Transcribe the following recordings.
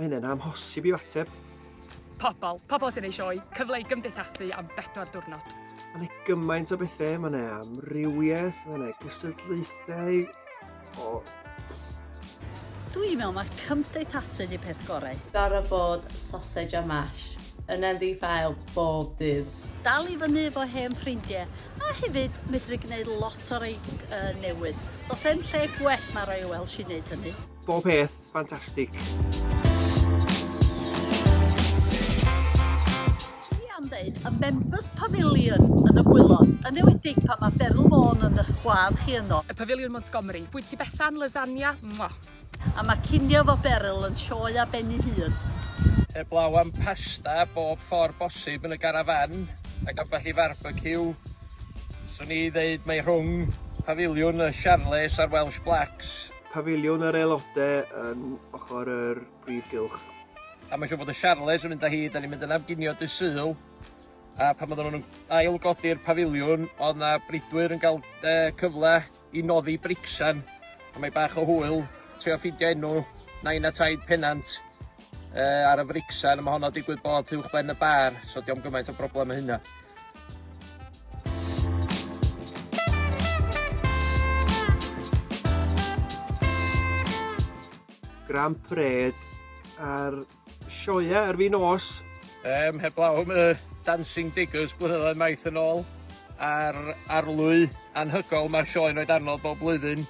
Mae hyn yn amhosib i'w ateb. Pobl, pobl sy'n ei sioe, cyfle i gymdeithasu am bedwar diwrnod. Mae yna gymaint o bethau, mae yna amrywiaeth, mae yna gystadlaethau, O. Dwi'n meddwl mae cymdeithasu di peth gorau. Gorau bod sausage a mash yn yn ddi-ffael bob dydd. Dal i fyny efo hen ffrindiau, a hefyd medru gwneud lot o rei uh, newydd. Does em lle gwell na roi y Welsh i wneud hynny. Bob peth Fantastic. Dwi am ddeud y Members Pavilion yn y gwylod, yn ewedig pan mae Beryl Vaughan yn ych gwadd chi yno. Y Pafiliwn Montgomery. Bwyty Bethan, Lasagna. Mwah. A mae cinio efo Beryl yn sioe ar ben ei hun. Heblaw am pasta bob ffordd bosib yn y garafan ac ambell i farbeciw, 'swn i ddeud mae rhwng Pafiliwn y Charles a'r Welsh Blacks. Pafiliwn yr Aelodau yn ochr yr Prif Gylch. A mae'n siŵr bod y Siarles yn mynd â hi, da ni'n mynd yn am ginio dy syl. A pan oedden nhw'n ail godi'r pafiliwn, oedd na bridwyr yn cael e, cyfle i noddi bricsan. A mae bach o hwyl, trio ffidio enw nain a taid penant uh, ar y fricsan, a mae honno digwydd bod uwch ben y bar, so diolch gymaint o broblem y hynna. Grand Parade a'r sioia ar fin os. Um, heblaw am y Dancing Diggers blynyddoedd maith yn ôl a'r arlwy anhygol mae'r sioe yn oed arno bob blwyddyn.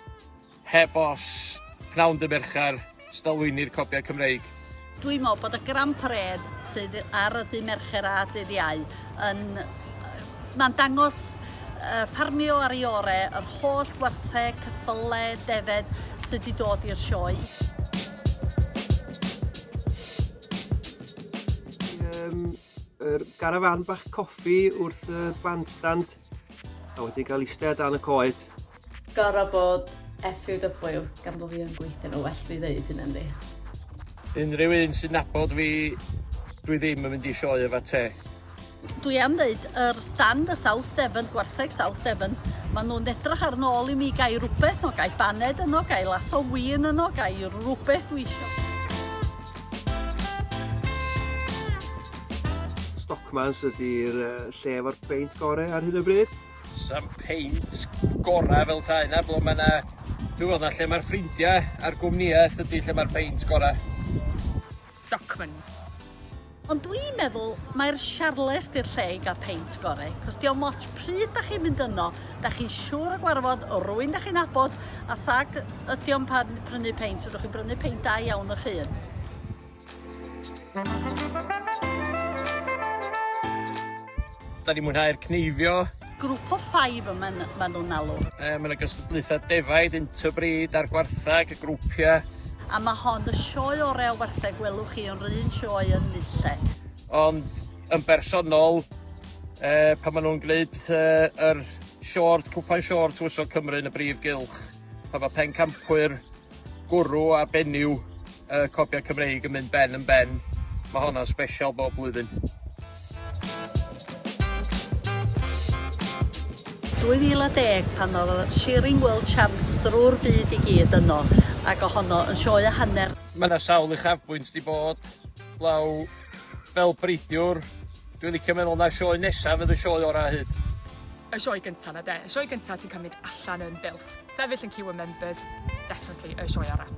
Heb os, pnawn dy Mercher, stolwyni'r copiau Cymreig. Dwi'n meddwl bod y Grand Parade sydd ar y dy Mercher a dydd Iau yn... Mae'n dangos uh, ffarmio ar ei ore, yr holl werthau, cyffyle, defed sydd wedi dod i'r sioe. Um, Yr garafan bach coffi wrth y bandstand a wedi cael eistedd dan y coed. Gorau bod FUW gan bod fi yn gweithio nhw well fi ddeud hyn ynddi. Unrhyw un sy'n nabod fi, dwi ddim yn mynd i sioe efo te. Dwi am ddeud, yr stand y South Devon, gwartheg South Devon, maen nhw'n edrych ar nôl i mi gael rhywbeth, no gael baned yno, gael lasso win yno, gael rhywbeth dwi eisiau. Stockmans ydi'r yy lle efo'r beint gore ar hyn o bryd. Sam peint gora fel tai na ble mae na dwi'n meddwl na lle mae'r ffrindiau a'r gwmnïaeth ydy lle mae'r peint gora. Stockmans. Ond dwi yn meddwl mai'r Siarles di'r lle i gael peint gore, cos diom ots pryd da chi'n mynd yno, da chi'n siŵr o gwarfod rwyn da chi'n nabod, a sag ydiom pan prynu peint, ydwch chi'n brynu peint da iawn ych hun. Da ni'n mwynhau'r cneifio. Grŵp o ffaif yma maen nhw'n alw. E, mae yna gystadlaethau defaid, interbreed a'r gwartheg, y grwpiau. A mae hon y sioe orau o wartheg welwch chi yn rhywun sioe yn nille. Ond yn bersonol, e, pan maen nhw'n gwneud e, yr short, cwpan short Tywysog Cymru yn y brif gylch, pan mae pencampwyr Gwrw a benyw y copiau Cymreig yn mynd ben yn ben. Mae honna'n sbesial bob blwyddyn. 2010 pan oedd Shearing World Champs drwy'r byd i gyd yno ac o honno yn sioe a hanner. Mae yna sawl uchafbwynt di bod, blaw fel breidiwr, dwi'n licio meddwl na sioe nesaf fydd y sioe orau hyd. Y sioe gynta na de? Y sioe gynta ti'n cymryd allan yn bylth. Sefyll yn ciw y members, definitely y sioe orau.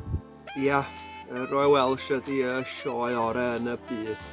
Ia, Royal Welsh ydi y sioe orau yn y byd.